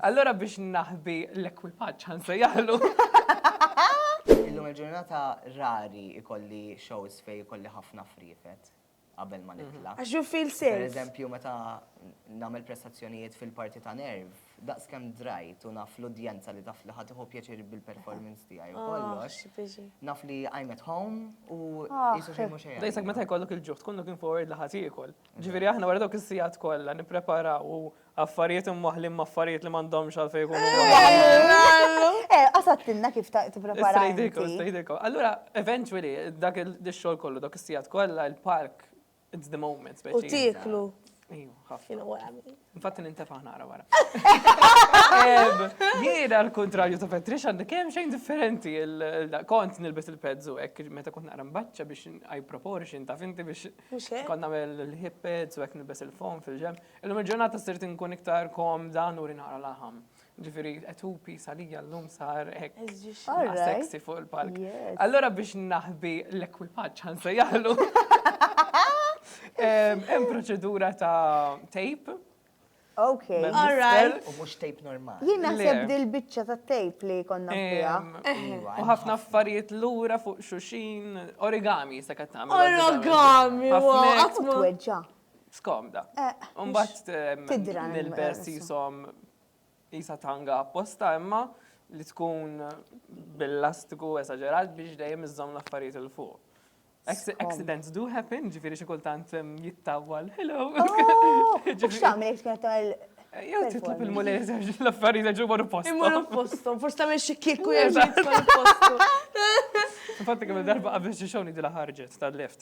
Allura biex naħbi l-ekwipaġġ ħa nsejjaħlu. Illum il-ġurnata rari ikolli shows fejn ikolli ħafna friefet qabel ma nitla'. Għax you feel safe. Per eżempju meta nagħmel prestazzjonijiet fil-parti ta' nerv, daqs kemm drajt u naf l-udjenza li taf li ħa tieħu pjaċir bil-performance tiegħi u kollox, naf li I'm at home u qisu xejn mhu xejn. Daqshekk meta jkollok il-ġuħ tkun looking forward li ħa tiekol. Ġifieri aħna wara dawk is-sigħat kollha nippreparaw u Affarijiet imwaħħlin ma' affarijiet li m'għandhomx għalfejn ikunu mwaħħlin. Eh, qasattilna kif ta' tipprepara. Stridikom, stridikom. Allura, eventually, dak il-xogħol kollu, dak is-sigħat kollha, il-park, it's the moment. U tieklu. Ejju, ħafna. Infatti nintefa' nara wara. Jiena l-kontrarju ta' Petrix għandi kemm xejn differenti. Kont nilbes il-pezzu hekk meta kont naqra mbaċċa biex I proportion ta' finti biex kont nagħmel il-hip pads u hekk nilbes il-fom fil-ġem. Illum il-ġurnata sirt inkun iktar komda nuri naqra laħam. Ġifieri qed hu piece għalija llum sar hekk All right. sexy fuq il-palk. Yes. Allura biex naħbi l-ekwipaġġ ħa nsejjaħlu. Em, Hemm proċedura ta' tape. Ok. Mem- All right. U mhux tape normali. Jien naħseb Le. dil-biċċa ta' tape li konna fiha. em, Iva, U ħafna affarijiet lura fuq xuxin, origami se qed tagħmel. Origami, Ħafna wow, hekk. għatmu. Tweġġa. Skomda. Eh, Umbat tidra nil-best jisom jisa tanga apposta imma li tkun bil-lastiku esagerat biex dejjem iżżom l-affarijiet il-fuq. Accidents do happen, ġifiri xi kultant jittawwal. Hello! Oh, ġifiri x'tagħmel tkun tagħmel Jew titlab il-mulej serġi l-affarijiet ġu marru postu. Imorru postu, forse tagħmel xi kieku jerġa' jitfa' postu. Infatti kemm darba qabel xi xogħol dila ħarġet tal-lift.